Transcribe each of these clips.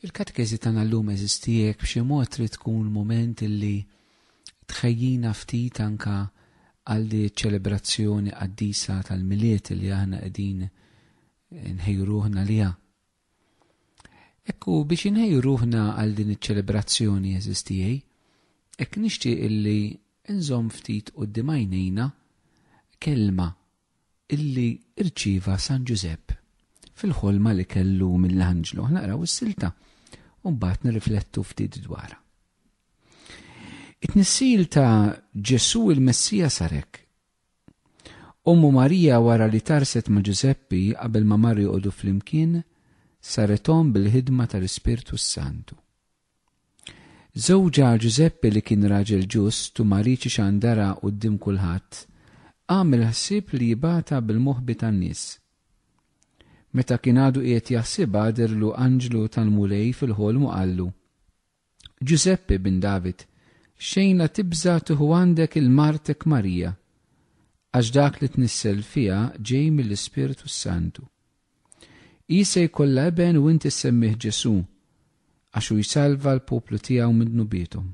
Il-katekeżi tagħna llum eżistiek b'xi mod trid tkun mument illi tħejjina ftit anka għal di ċelebrazzjoni qaddisa tal-miliet li aħna qegħdin nħejju ruħna liha. Ekku biex inħejju ruħna għal din iċ-ċelebrazzjoni eżistijej, ek nixtieq illi nżomm ftit qudiem għajnejna kelma illi rċieva San Ġużepp fil-ħolma li kellu mill-anġlu. Aħna naqraw is-silta u mbagħad nirriflettu ftit dwarha. It-tnissil ta' Ġesù il-Messija sarek. Ommu Marija wara li tarset ma' Ġużeppi qabel ma mar joqogħdu flimkien, sarethom bil-ħidma tal-Ispirtu s-Santu. Żewġha Ġużeppi li kien raġel ġust u ma riedx ixandarha quddiem kulħadd, għamel ħsieb li jibgħatha bil-moħbi tan-nies. Meta kien għadu qiegħed jaħsibha dherlu anġlu tal-Mulej fil-ħolm u qallu, Ġużeppi bin David, xejn la tibża' tieħu għandek il-martek Marija, għax dak li tnissel fiha ġej mill-Ispirtu s-Santu. Hi se jkollha iben u inti ssemmih Ġesù, għax hu jsalva l-poplu tiegħu minn dnubiethom.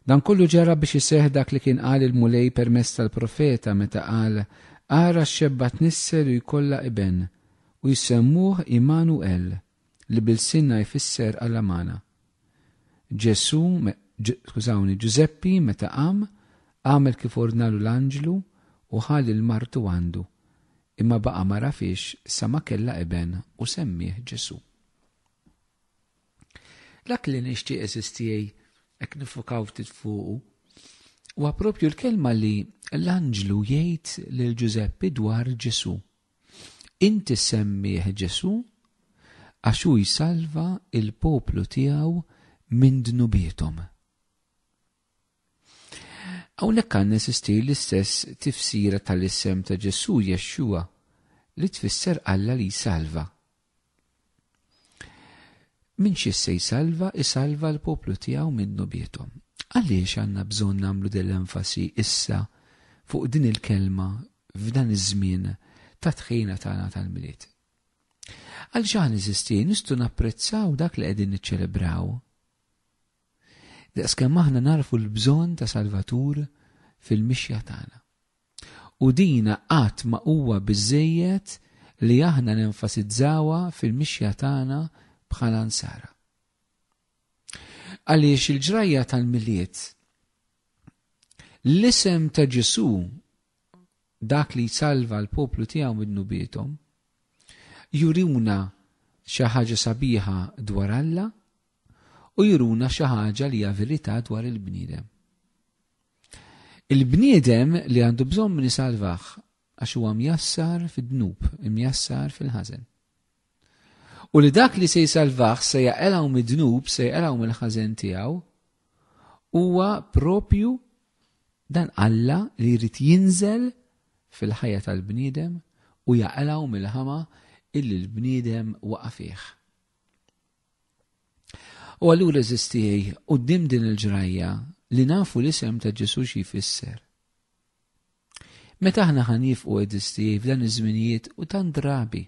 Dan kollu ġara biex iseħħ dak li kien qal il-Mulej permezz tal-profeta meta qal, Ara x-xebba tnissel u jkollha iben, u jsemmuh Imanu el, li b'ilsienna jfisser Alla magħna. Ġesù, skużawni, Ġużeppi meta qam, għamel kif ordnalu l-anġlu u ħa lil martu għandu, imma baqa' ma rafhiex sa ma kellha iben u semmieh Ġesù. Dak li nixtieq eżiż tiegħi hekk nifukaw ftit fuqu huwa proprju l-kelma li l-anġlu jgħid lil Ġużeppi dwar Ġesù. Inti semmih Ġesù għax hu jsalva l-poplu tiegħu minn dnubiethom. Hawnhekk għandna jsistir l-istess tifsira tal-isem ta' Ġesù Jexxua li tfisser Alla li jsalva. Min xi se jsalva, isalva l-poplu tiegħu minnu bietom. Għaliex għandna bżonn nagħmlu din l-enfasi issa fuq din il-kelma f'dan iż-żmien ta' tħina tagħna tal-milied? Għal xaħn iżisti nistgħu napprezzaw dak li qegħdin niċċelebraw. Daqskemm aħna narfu l-bżonn ta' Salvatur fil-mixja tagħna. U din qatt ma huwa biżżejjed li aħna nenfasizzawha fil-mixja tagħna bħala Nsara. Għaliex il-ġrajja tal-Milied, l-isem ta' Ġesù, dak li jsalva l-poplu tiegħu mid-dnubiethom, juruna xi ħaġa sabiħa dwar Alla u juruna xi ħaġa li hija verità dwar il-bniedem. Il-bniedem li għandu bżonn min isalvah għax huwa mjassar fid-dnub, imjassar fil-ħażen. U li dak li se jsalvah se jaqelgħu mid-dnub, se jaqelgħu mill-ħażen tiegħu, huwa propju dan Alla li jrid jinżel fil-ħajja tal-bniedem u jaqelgħu mill-ħama illi l-bniedem waqa' fih. U allura eżistijaj, qudiem din il-ġrajja li nafu l-isem ta' Ġesu xi jfisser. Meta aħna ħan jifqu eżistijaj f'dan iż-żminijiet u tan drabi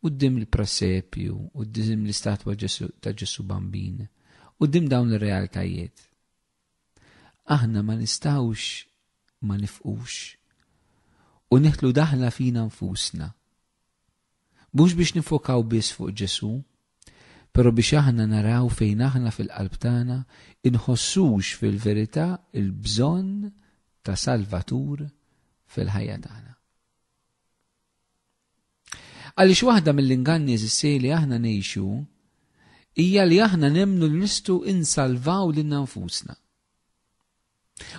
qudiem il-prasepju, qudiem l-istatwa ta' Ġesu Bambin, qudiem dawn ir-realtajiet. Aħna ma nistawx ma nifqux u neħlu daħla fina nfusna. Mhux biex niffokaw biss fuq Ġesù, però biex aħna naraw fejn aħna fil-qalb tagħna nħossux fil-verità l-bżonn ta' Salvatur fil-ħajja tagħna. Għaliex waħda mill-inganni eżissej li aħna ngħixu hija li aħna nemmnu li nistgħu insalvaw lilna nfusna.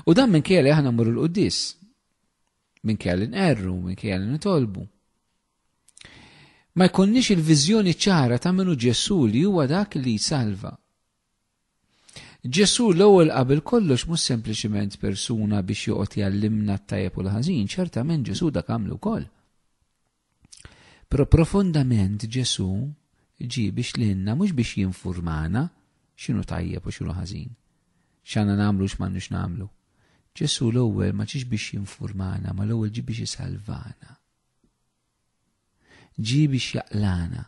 U dan minn kjeli aħna mmur l-quddis. Minn kjeli nqerru, minn kjeli nitolbu. Ma jkunniex il-viżjoni ċara ta' minnu Ġesu li huwa dak li jsalva. Ġesu l-ewwel qabel kollox mhux sempliċiment persuna biex joqgħod jallimna t-tajjeb u l-ħażin, ċertament Ġesu dak għamlu wkoll. Però profondament Ġesù ġie biex lilna mhux biex jinfurmana x'inhu tajjeb u x'inhu ħażin, x'għandna nagħmlu u x'm'għandniex nagħmlu. Ġesù l-ewwel ma ġiex biex jinfurmana ma l-ewwel ġie biex isalvana. Ġie biex jaqlana.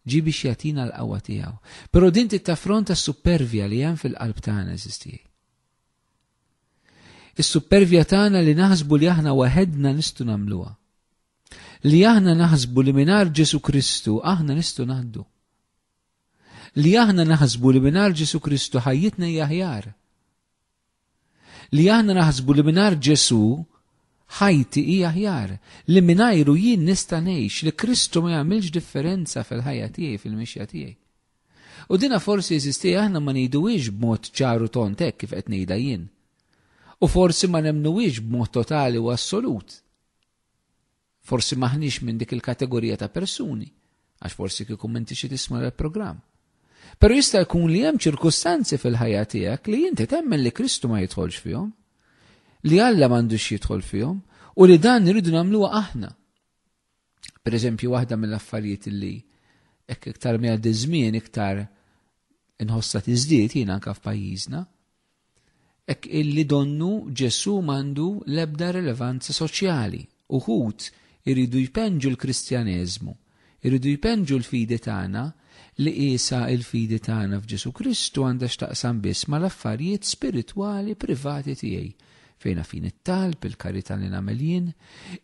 Ġie biex jagħtina l-qawwa tiegħu. Però din tittaffronta s-supervja li hemm fil-qalb tagħna eżistijaj. Is-suppervja tagħna li naħsbu li aħna waħedna nistgħu nagħmluha. Li aħna naħsbu li mingħajr Ġesu Kristu aħna nistgħu ngħaddu. Li aħna naħsbu li mingħajr Ġesu Kristu ħajjitna hija aħjar. Li aħna naħsbu li mingħajr Ġesu ħajti hija aħjar li mingħajru jien nista' ngħix li Kristu ma jagħmilx differenza fil-ħajja tiegħi fil-mixja tiegħi. U dinha forsi eżisti aħna ma ngħiduhiex b'mod ċar u tond hekk kif qed ngħidha jien. U forsi ma nemmnuhiex b'mod totali u assolut. Forsi m'aħniex minn dik il-kategorija ta' persuni, għax forsi kieku m'inti xi tisma' l-programm. Però jista' jkun li hemm ċirkustanzi fil-ħajja tiegħek li inti temmen li Kristu ma jidħolx fihom, li Alla m'għandux jidħol fihom u li dan nridu nagħmluha aħna. Pereżempju, waħda mill-affarijiet li hekk iktar ma jgħaddi ż-żmien iktar inħossha tiżdied jiena anke f'pajjiżna, hekk illi donnu Ġesù m'għandu l-ebda rilevanza soċjali. Uħud iridu jpenġu l-Kristjaneżmu, iridu jpenġu l-fidi tagħna li qiesha l-fidi tagħna f'Ġesù Kristu għandha x'taqsam biss mal-affarijiet spiritwali privati tiegħi Fejna fin it-talb, il-karità li nagħmel jien,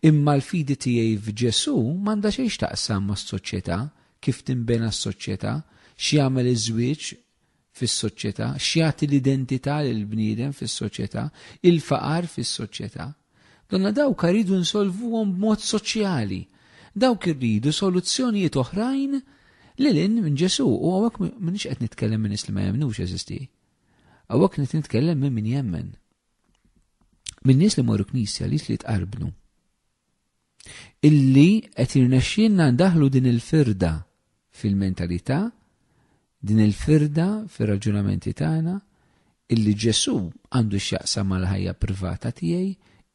imma l-fidi tiegħi f'Ġesù m'għandha xejn x'taqsam mas-soċjetà, kif tinbena s-soċjetà, x'jagħmel iż-żwieġ fis-soċjetà, x'jagħti l-identità lil bniedem fis-soċjetà, il-faqar fis-soċjetà. Donna dawk rridu nsolvuhom b'mod soċjali. Dawk irridu soluzzjonijiet oħrajn lil minn Ġesù u hawnhekk m'iniex qed nitkellem minn nies li ma jemnux eżisti. Għawak qed nitkellem minn min jemmen. Minn nies li morru knisja li li tqarbnu. Illi qed irnexxinna ndaħlu din il-firda fil-mentalità, din il-firda fir-raġunamenti tagħna, illi Ġesu għandu x'jaqsam mal-ħajja privata tiegħi,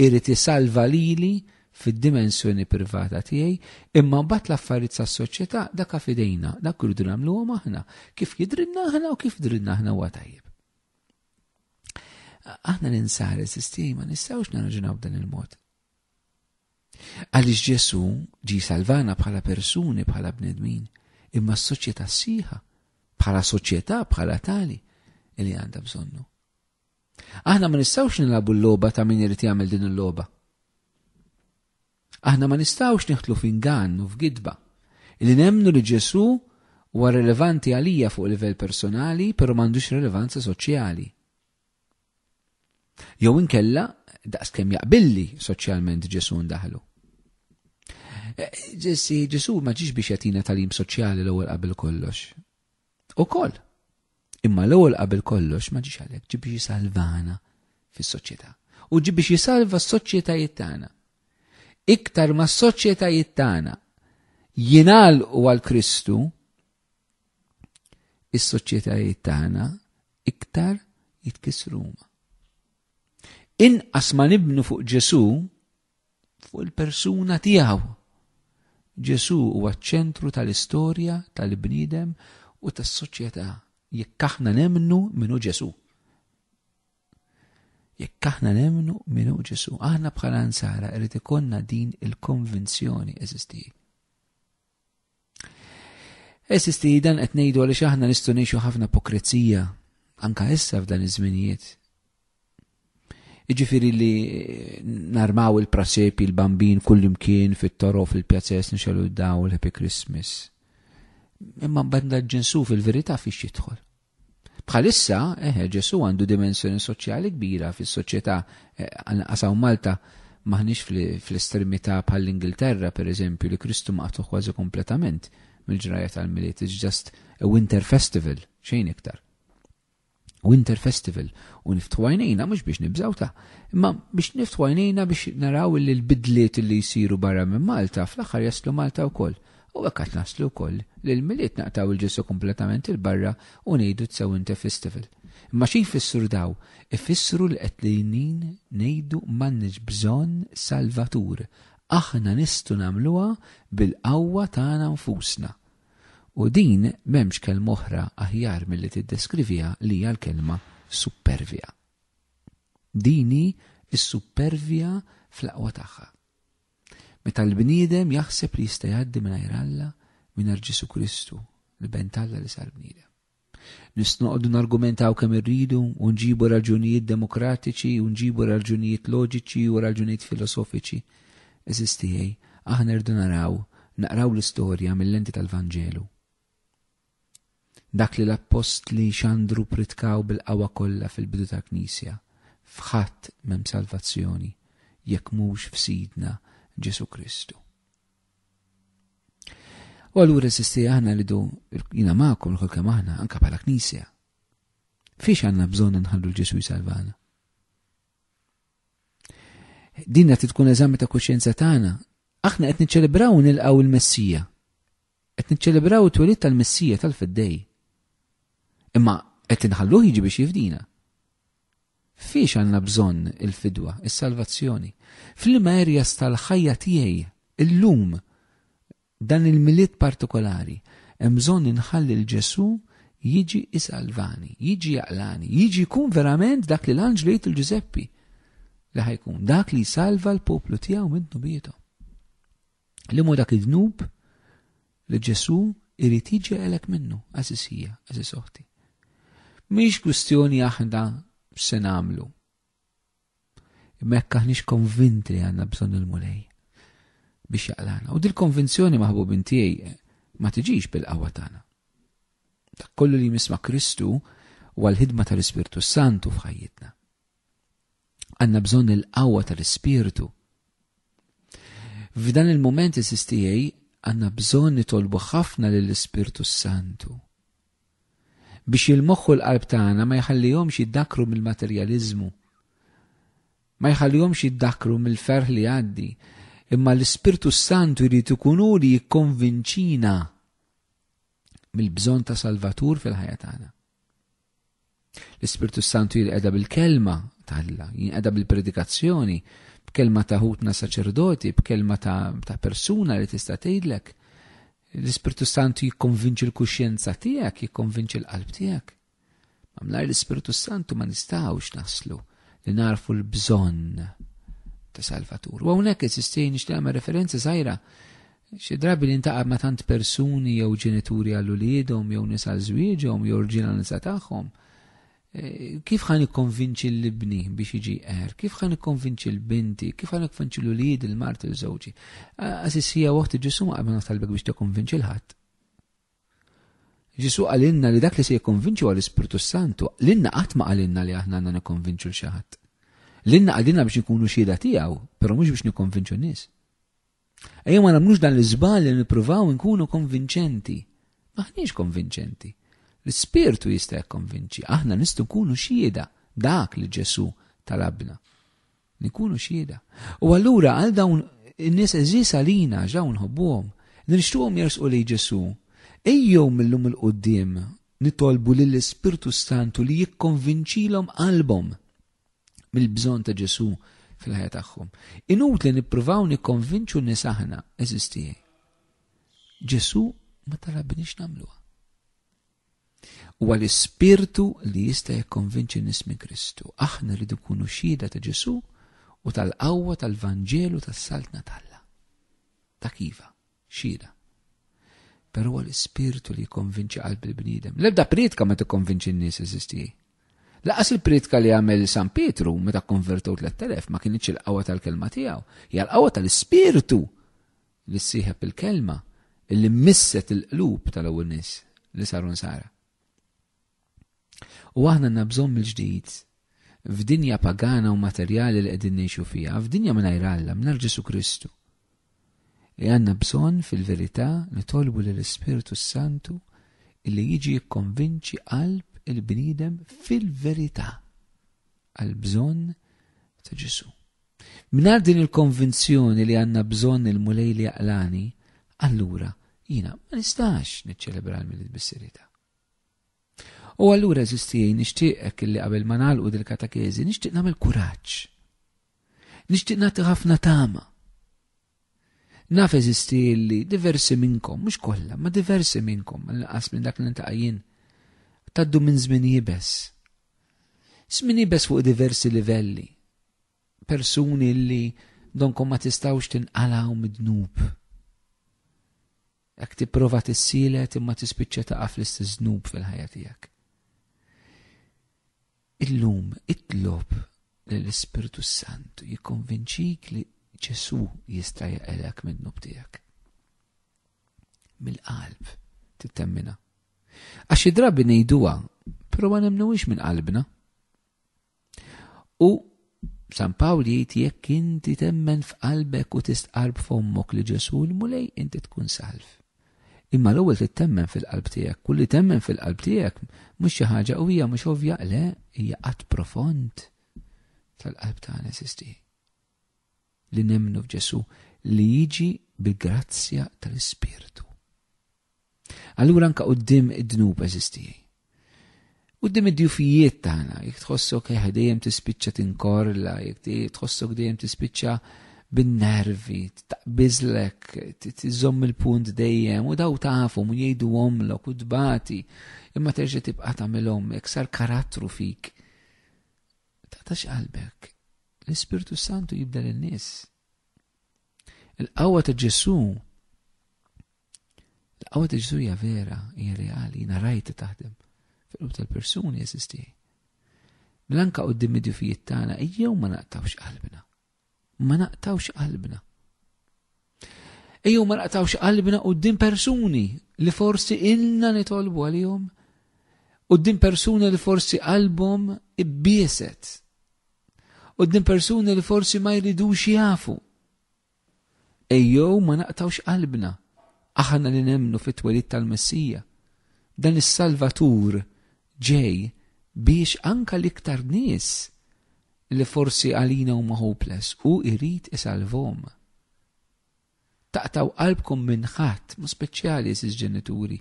irid isalva lili fid-dimensjoni privata tiegħi, imma mbagħad l-affarijiet tas-soċjetà dak fidejna, dak irridu nagħmluhom aħna, kif jidrilna aħna u kif drilna aħna huwa tajjeb. Aħna ninsar is-sistema nistgħux naraġunaw dan il-mod. Għaliex Ġesu ġi salvana bħala persuni, bħala bnedmin, imma s-soċjetà siħa, bħala soċjetà, bħala tali, li għandha bżonnu. Aħna ma nistgħux nilagħbu l-logħba ta' min irid jagħmel din il-logħba. Aħna ma nistgħux nieħdlu f'ingann u f'gidba li nemnu li Ġesù huwa rilevanti għalija fuq livell personali, però m'għandux rilevanza soċjali. Jew inkella daqs kemm jaqbilli soċjalment Ġesù ndaħlu. Eh, Ġessi, Ġesù ma ġiex biex jatina talim soċjali l-ewwel qabel kollox. Ukoll. Imma l-ewwel qabel kollox ma ġiex għalhekk, ġi biex jisalvana fis-soċjetà. U ġi biex jisalva s-soċjetajiet tagħna. Iktar ma s-soċjetajiet tagħna jingħalqu għal Kristu, is-soċjetajiet tagħna iktar jitkisruma. Inqas ma nibnu fuq Ġesu, fuq il-persuna tiegħu. Ġesù huwa ċ-ċentru tal-istorja tal-bniedem u tas-soċjetà jekk aħna nemmnu minnu Ġesù. Jekk aħna nemmnu minu Ġesu, aħna bħala nsara irid ikonna din il-konvinzjoni eżistiji. Esisti dan qed ngħidu għaliex aħna nistgħu ngħixu ħafna ipokrizija anka issa f'dan iż-żminijiet. Iġifieri li eh, narmaw il-prasepi, il-bambin kullimkien fit-toro fil-pjazzess nixelu daw l-Happy Christmas. Imma banda ġinsu fil-verità fiex jidħol. Bħalissa, eħe, Ġesù għandu dimensjoni soċjali kbira fis-soċjetà għanqas hawn Malta m'aħniex fl-estremità bħall-Ingilterra, per eżempju, li Kristu maqtu' kważi kompletament mill-ġrajja tal-Milied. It's just a winter festival, xejn iktar. Winter festival u niftħu għajnejna mhux biex nibżgħu ta' imma biex niftħu għajnejna biex naraw li l-bidliet li jsiru barra minn Malta fl-aħħar jaslu Malta wkoll. U hekk għad naslu wkoll li l-Milied naqtgħu lil Ġesù kompletament 'il barra u ngħidu t-Sewwinte Festival. Imma xi jfissru daw? Ifissru li qedlinin ngħidu m'għandniex bżonn Salvatur, aħna nistgħu nagħmluha bil-qawwa tagħna nfusna. U din m'hemmx kelma oħra aħjar milli tiddeskriviha li hija l-kelma suppervja. Dini is-suppervja fl-aqwa tagħha. Meta l-bniedem jaħseb li jista' jgħaddi mingħajr Alla, mingħajr Ġesù Kristu, l-Iben t'Alla li sar bniedem. Nistgħu noqogħdu nargumentaw kemm irridu u nġibu raġunijiet demokratiċi u nġibu raġunijiet loġiċi u raġunijiet filosofiċi. Għeżież tiegħi, aħna rridu naraw, naqraw l-istorja mil-lenti tal-Vanġelu. Dak li l-appostli xandru ppritkaw bil-qawwa kollha fil-bidu tal-Knisja, F'ħadd m'hemm salvazzjoni, jekk mhux f'Sidna Ġesù Kristu. U allura sisti aħna rridu jiena magħkom lkoll kemm aħna anke bħala Knisja. Fiex għandna bżonn nħallu l-Ġesù jsalvana? Dinna tkun eżami ta' kuxjenza tagħna. Aħna qed niċċelebraw nilqgħu l-Messija. Qed niċċelebraw it-twelid tal-Missija tal-Feddej. Imma qed inħalluh jiġi biex jifdina. Fiex għandna bżonn il-fidwa, is-salvazzjoni? F'liema areas tal-ħajja tiegħi illum dan il-milied partikolari hemm bżonn inħalli l Ġesù jiġi isalvani, jiġi jaqlani, jiġi jkun verament dak li l-anġlu jgħid il-Ġużeppi li ħajkun dak li jsalva l-poplu tiegħu minn dnubietom. Li mu dak id-dnub li Ġesu irid jiġeqelek minnu, għażisija, għażis oħti. Mhix kwistjoni aħna se nagħmlu. Mekk aħniex konvinti li għandna bżonn il-mulej biex jaqlana. U dil-konvinzjoni maħbubin tiegħi ma tiġix bil-qawwa tagħna. Dak kollu li jmisma Kristu huwa l-ħidma tal-Ispirtu Santu f'ħajjitna. Għandna bżonn il-qawwa tal-Ispirtu. F'dan il-mument is-STA għandna bżonn nitolbu ħafna lill-Ispirtu s-Santu biex il-moħħu l-qalb tagħna ma jħallihomx jiddakru mill-materjaliżmu. Ma jħallihomx jiddakru mill-ferħ li għaddi, imma l-Ispirtu s-Santu jrid ikun hu li jikkonvinċina mill-bżonn ta' Salvatur fil-ħajja tagħna. L-Ispirtu Santu jinqeda bil-kelma ta' Alla, jinqeda bil-predikazzjoni, b'kelma ta' ħutna saċerdoti, b'kelma ta', ta persuna li tista' tgħidlek. L-Ispirtu Santu jikkonvinċi l-kuxjenza tiegħek, jikkonvinċi l-qalb tiegħek. Mamlar l-Ispirtu Santu ma nistgħux naslu li narfu l-bżonn ta' Salvatur. U hawnhekk eżistejn nixtieq referenza żgħira Xi drabi li ntaqab ma' tant persuni jew ġenituri għal uliedhom jew nisa għal żwieġhom jew rġiel għal nisa tagħhom. Kif ħa nikkonvinċi lil ibni biex jiġi jqerr? Kif ħa nikkonvinċi l binti? Kif ħa nikkonvinċi l uliedi, l marti, l żewġi? Għażiż hija oħti Ġesù ma qabel talbek biex tikkonvinċi l ħadd. Ġesu għalinna li dak li se jikkonvinċu għal ispirtu Santu, l-inna qatt ma għalinna li aħna għandna nikkonvinċu l xaħat. L-inna għalinna biex nkunu xieda tiegħu, però mhux biex nikkonvinċu nies. Ejja ma nagħmlux dan l-iżbal li nippruvaw nkunu konvinċenti. Maħniex konvinċenti. L-Ispirtu jista' jikkonvinċi, aħna nistgħu nkunu xhieda dak li Ġesù talabna. Nkunu xhieda. U allura għal dawn in-nies eżis għalina ġaw nħobbuhom, li nixtuhom jersqu li Ġesù, ejjew millum il-qudiem nitolbu lill-Ispirtu Santu li jikkonvinċilhom qalbhom. mill-bżonn ta' Ġesù fil-ħajja tagħhom. Inutli nippruvaw nikkonvinċu nies aħna, eżiż tiegħi. Ġesù ma talabniex nagħmluha. Huwa l-ispirtu li jista' jikkonvinċi nies minn Kristu. Aħna rridu nkunu xhieda ta' Ġesù u tal-qawwa tal-Vanġelu tas-saltna tal-la. Ta' kiva. Xhieda. Però huwa l-Ispirtu li jikkonvinċi qalb il-bniedem. L-ebda prietka ma tikkonvinċi n-nies, eżisti. Laqas il-prietka li għamel San Pietru meta kkonvertew tlet-telef ma kienitx il-qawwa tal-kelma tiegħu, hija l-qawwa tal-Ispirtu li ssieħeb il-kelma illi misset il-qlub tal-ewwel nies li saru nsara. U aħna għandna bżonn mill-ġdid f'dinja pagana u materjali li qegħdin ngħixu fiha, f'dinja mingħajr Alla, mingħajr Ġesu Kristu. Li għandna bżonn fil-verità nitolbu lill ispirtu s-Santu illi jiġi jikkonvinċi qalb il-bniedem fil-verità għal bżonn ta' Ġesu. Mnar din il-konvinzjoni li għanna bżonn il-mulej li għalani, allura jina ma nistax niċċelebra l-milit bis-serita. U allura eżis tiegħi nixtieqek illi qabel ma nagħlqu dil-katakeżi nixtieq nagħmel kuraġġ. Nixtieq nagħti ħafna tama. Naf eżisti illi diversi minnkom, mhux kollha, ma diversi minnkom, nqas minn dak li ntaqajjin, taddu minn żmien jibes. Żmien jibes fuq diversi livelli. persuni li donkom ma tistawx tinqalaw mid-dnub. Jekk tipprova tissielet imma tispiċċa taqa' fl-istess dnub fil-ħajja tiegħek. Illum itlob l-Ispirtu Santu jikkonvinċik li Ġesu jista' jaqelek mid-dnub tiegħek. Mill-qalb tittemmina. Għax id-drabi ngħiduha, però ma nemnuwix minn qalbna. U San Pawl jgħid jekk inti temmen f'qalbek u tistqarb fommok li Ġesu l-Mulej inti tkun salv. Imma l-ewwel trid temmen fil-qalb tiegħek. Kulli temmen fil-qalb tiegħek mhux xi ħaġa u hija mhux ovvja le hija qatt profond tal-qalb tagħna sisti. li nemmnu f'Ġesù li jiġi bil-grazzja tal-Ispirtu. Allura anka qudiem id-dnub eżistijaj. Qudiem id-djufijiet tagħna, jekk tħossok eh, dejjem tispiċċa tinkorla, jekk tħossok dejjem tispiċċa bin-nervi, taqbiżlek, tiżomm il-punt dejjem u daw tafhom u jgħidu omlok u tbati, imma terġa' tibqa' tagħmilhom jekk sar karattru fik. Taqtax qalbek. L-Ispirtu Santu jibda lin-nies. Il-qawwa ta' Ġesu' il-qawwa ta' Ġesu' hija vera, hija reali, jiena rajta taħdem fil-qlub tal-persuni eżisti. Mela anka qudiem id-djufijiet tagħna ejjew ma naqtawx qalbna. ma naqtawx qalbna. Ejjew ma naqtawx qalbna din persuni li forsi ilna nitolbu għalihom din persuni li forsi qalbhom ibbieset din persuni li forsi ma jridux jafu. Ejjew ma naqtawx qalbna aħna li nemnu fit-twelid tal-Messija. Dan is-Salvatur ġej biex anka l-iktar nies li forsi għalina huma hopeless hu jrid isalvhom. Taqtgħu qalbkom minn ħadd, mod speċjali għeżież ġenituri.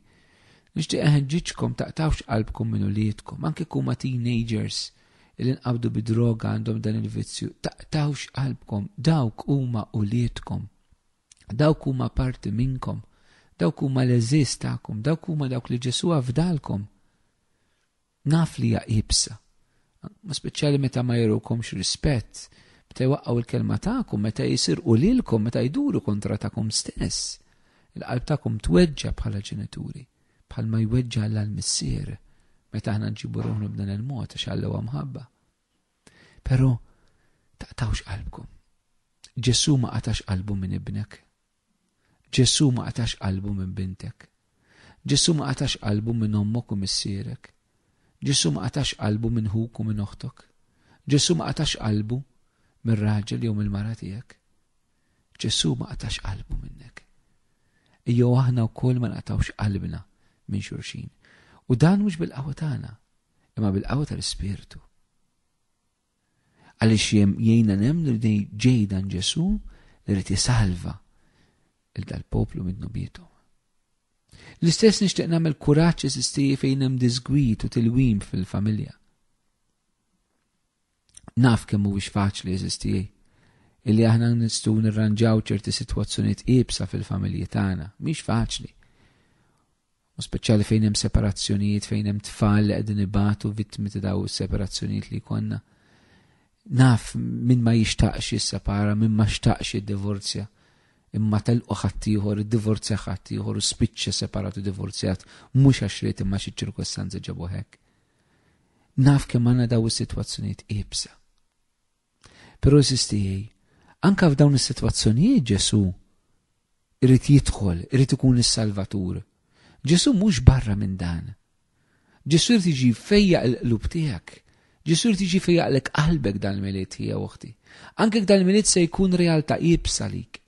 Nixtieq inħeġġiġkom taqtgħux qalbkom minn uliedkom, anke jekk huma teenagers li nqabdu bi droga għandhom dan il-vizzju, taqtgħux qalbkom, dawk huma uliedkom. Dawk huma parti minnkom. Dawk huma l-għeżież tagħkom. Dawk huma dawk li Ġesù afdalkom. Naf li hija iebsa. Ma speċjali meta ma jerukomx rispett, meta jwaqqgħu l-kelma tagħkom, meta jisirqu lilkom, meta jduru kontra tagħkom stess. Il-qalb tagħkom tweġġa' bħala ġenituri, bħal ma jweġġa' l-missier meta aħna nġibu ruħna b'dan il-mod għax Alla huwa mħabba. Però taqtawx qalbkom. Ġesù ma qatax qalbu minn ibnek. Ġesù ma qatax qalbu minn bintek. Ġesù ma qatax qalbu minn ommok u missierek. Ġesù ma qatax qalbu minn ħuk u minn oħtok. Ġesù ma qatax qalbu minn raġel jew mill-mara tiegħek. Ġesù ma qatax qalbu minnek. Ejjew aħna wkoll ma naqtawx qalbna minn xulxin. U dan mhux bil-qawwa tagħna, imma bil-qawwa tal-Ispirtu. Għaliex jem jgħina nemnu li dej ġejdan Ġesu li rrit jisalva il-dal-poplu minn nubietu. L-istess nixtieq nagħmel kuraġġ eżistiji fejn hemm disgwid u tilwim fil-familja. Naf kemm mhuwiex faċli, għeżież tiegħi, illi aħna nistgħu nirranġaw ċerti sitwazzjonijiet iebsa fil-familji tagħna. Mhix faċli. U speċjali fejn hemm separazzjonijiet, fejn hemm tfal li qegħdin ibatu vittmi ta' daw is-separazzjonijiet li konna. Naf min ma jixtaqx jissepara, min ma xtaqx jiddivorzja imma telqu ħaddieħor, id-divorzja ħaddieħor u spiċċa separat u divorzjat mhux għax ried imma xi ċirkostanzi ġabu hekk. Naf kemm għandna daw is-sitwazzjonijiet iebsa. Però sistijej, anka f'dawn is-sitwazzjonijiet Ġesu irid jidħol, irid ikun is-Salvatur. Ġesu mhux barra minn dan. Ġesu irid jiġi fejja l-qlub tiegħek. Ġesu irid jiġi fejjaqlek qalbek dal-milied hija oħti. Anke dal-milied se jkun realtà iebsa lik.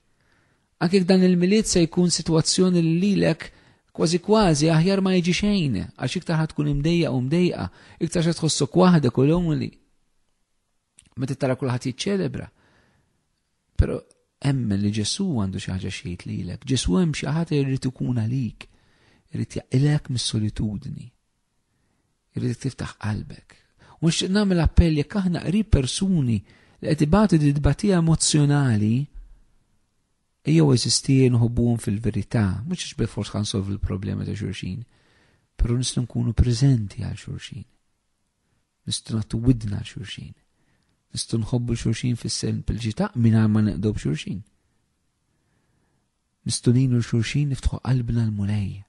Anke jekk dan il-Milied se jkun sitwazzjoni li lilek kważi kważi aħjar ma jiġi xejn, għax iktar ħa tkun imdejjaq u mdejqa, iktar se tħossok waħdek u lonely. Meta tara kulħadd jiċċelebra. Però emmen li Ġesu għandu xi ħaġa xejt lilek. Ġesu hemm xi ħadd irid ikun għalik, irid jaqilek mis-solitudni. Irridek tiftaħ qalbek. U nixtieq nagħmel appell jekk aħna qrib persuni li qed ibatu di tbatija emozzjonali, jew eżisti nħobbuhom fil-verità, mhux għax bil-fors kan solvu l-problema ta' xulxin, però nistgħu nkunu preżenti għal xulxin. Nistgħu nagħtu widna għal xulxin. Nistgħu nħobbu xulxin fis-sen pil-ġita mingħajr ma neqdu b'xulxin. Nistgħu ngħinu xulxin niftħu qalbna l-mulej.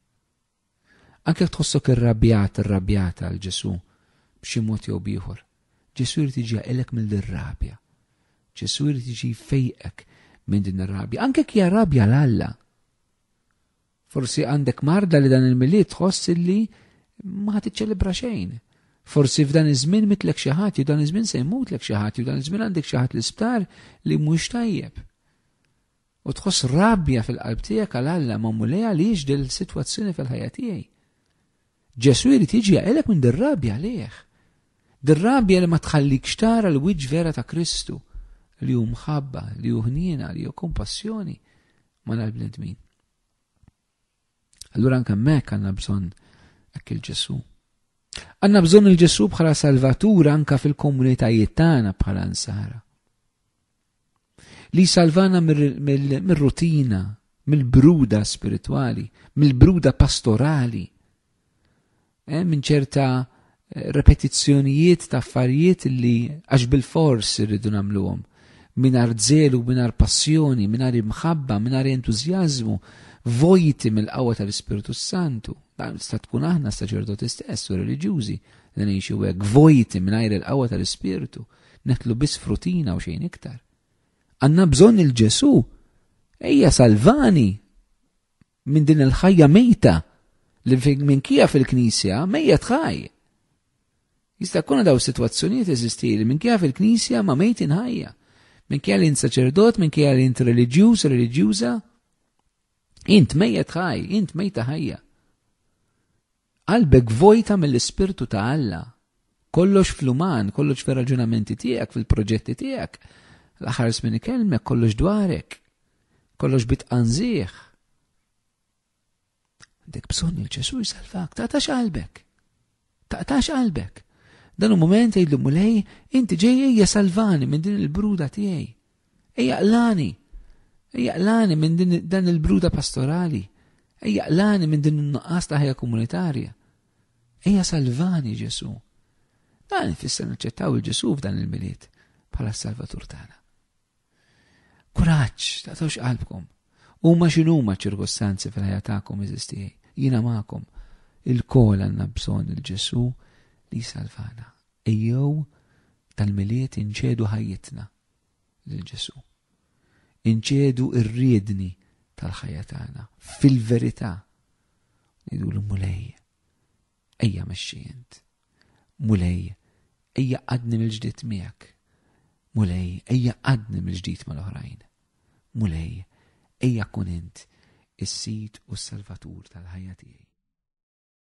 Anke jekk tħossok irrabjat, irrabjata għal Ġesù b'xi mod jew b'ieħor, Ġesù jrid jiġi jaqilek minn din rabja. Ġesù jrid jiġi jfejqek minn din ir-rabja, anke jekk hija rabja l Alla. Forsi għandek marda li dan il-milied tħoss li ma ħad iċċelebra xejn. Forsi f'dan iż-żmien mitlek xi ħadd jew dan iż-żmien se jmutlek xi ħadd jew dan iż-żmien għandek xi ħadd l-isptar li mhux tajjeb. U tħoss rabja fil-qalb tiegħek għal Alla ma' Mulej għaliex dil-sitwazzjoni fil-ħajja tiegħi. Ġesù jrid jiġi jaqilek minn dir-rabja għalih. Dir-rabja li ma tħallikx tara l-wiċċ vera ta' Kristu li hu mħabba, li hu ħniena, li hu kompassjoni ma' l-bnedmin. Allura anke hemmhekk għandna bżonn hekk il-Ġesù. Għandna bżonn il-Ġesù bħala salvatur anke fil-komunitajiet tagħna bħala nsara. li jsalvana mir-rutina, mill-bruda spiritwali, mill-bruda pastorali, eh, minn ċerta eh, repetizzjonijiet ta' affarijiet li għax bil-fors irridu nagħmluhom minar zelu, minar passjoni, minar imħabba, minar entuzjazmu, vojti mill-qawwa tal-Ispirtu Santu. Dan sta tkun aħna saċerdoti stess u reliġjużi li ngħixu hekk vojti mingħajr il-qawwa tal-Ispirtu. Netlu biss frutina u xejn iktar. Għanna bżonn il-Ġesu. Ejja salvani minn din il-ħajja mejta li minn kija fil-knisja mejja tħaj. Jista' kuna daw situazzjonijiet eżisti li minn kija fil-knisja ma mejtin ħajja. Minn kija li saċerdot, minn kija li int reliġjuż, reliġjuża. Int mejja tħaj, int mejta ħajja. Qalbek vojta mill-Ispirtu ta' Alla. Kollox fl-uman, kollox fir-raġunamenti tiegħek, fil-proġetti tiegħek. L-aħħar żmien ikellmek, kollox dwarek. Kollox bi tqanżigħ. Għandek bżonn il Ġesu jsalvak, taqtax qalbek. Taqtax qalbek. Dan u moment jgħidlu mulej, inti ġejjej jasalvani minn din il-bruda tiegħi. Ejja qlani! Ejja qlani minn din dan il-bruda pastorali! Ejja qlani minn din in-nuqqas ta' ħajja komunitarja! Ejja salvani, Ġesù! Dan ifisser naċċettaw il-Ġesù f'dan il-Milied bħala s-Salvatur tagħna. Kuraġġ, taqtawx qalbkom. Huma x'inhuma ċ-ċirkostanzi fil-ħajja tagħkom eżistijaj. Jiena magħkom. Il-kol għandna bżonn il-Ġesù li jsalvana. Ejjew tal-Milied inċedu ħajjitna lil Ġesù. Inċedu r-riedni tal-ħajja tagħna fil-verità. Ngħidulu Mulej, ejja mexxi int. Mulej, ejja qadni mill-ġdid miegħek. Mulej, ejja qadni mill-ġdid mal-oħrajn. Mulej, ejja kun int is-sid u s-salvatur tal-ħajja tiegħi.